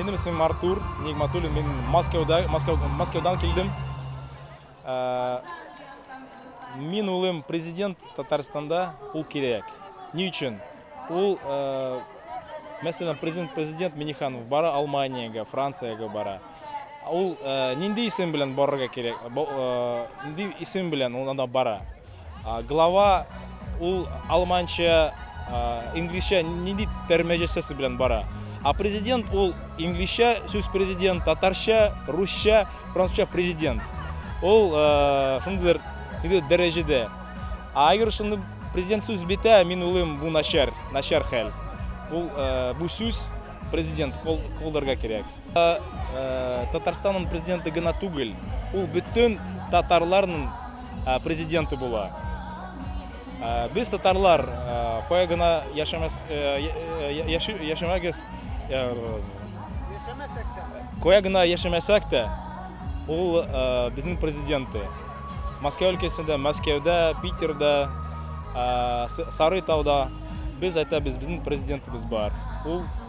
Минем исемем Артур Нигматуллин, мин Мәскәүдә, Мәскәү, Мәскәүдән килдем. Ә, мин улым президент Татарстанда, ул кирәк. Ни өчен? Ул, ә, мәсәлән, президент, президент Миниханов бара Алманиягә, Франциягә бара. Ул ә, нинди исем белән барырга кирәк? Бо- ә, Нинди исем белән ул анда бара? Глава ул алманча, инглизчә нинди тәрмәҗәсәсе белән бара? А президент ул инглизчә сүз президент, татарча, русча, французча президент. Ул шундыйдыр иде дәрәҗәдә. А әгәр шуны президент сүз бетә, мин улым бу начар, начар хәл. Ул бу сүз президент колдырга кирәк. Татарстанның президенты гына түгел, ул бөтен татарларның президенты була. Без татарлар кая гына яшәмәс яшәмәгез, Яшәмәсәк тә. Кая гына яшәмәсәк тә, ул безнең президенты. Мәскәү өлкәсендә, Мәскәүдә, Питерда, Сарытауда без әйтәбез, безнең президентыбыз бар. Ул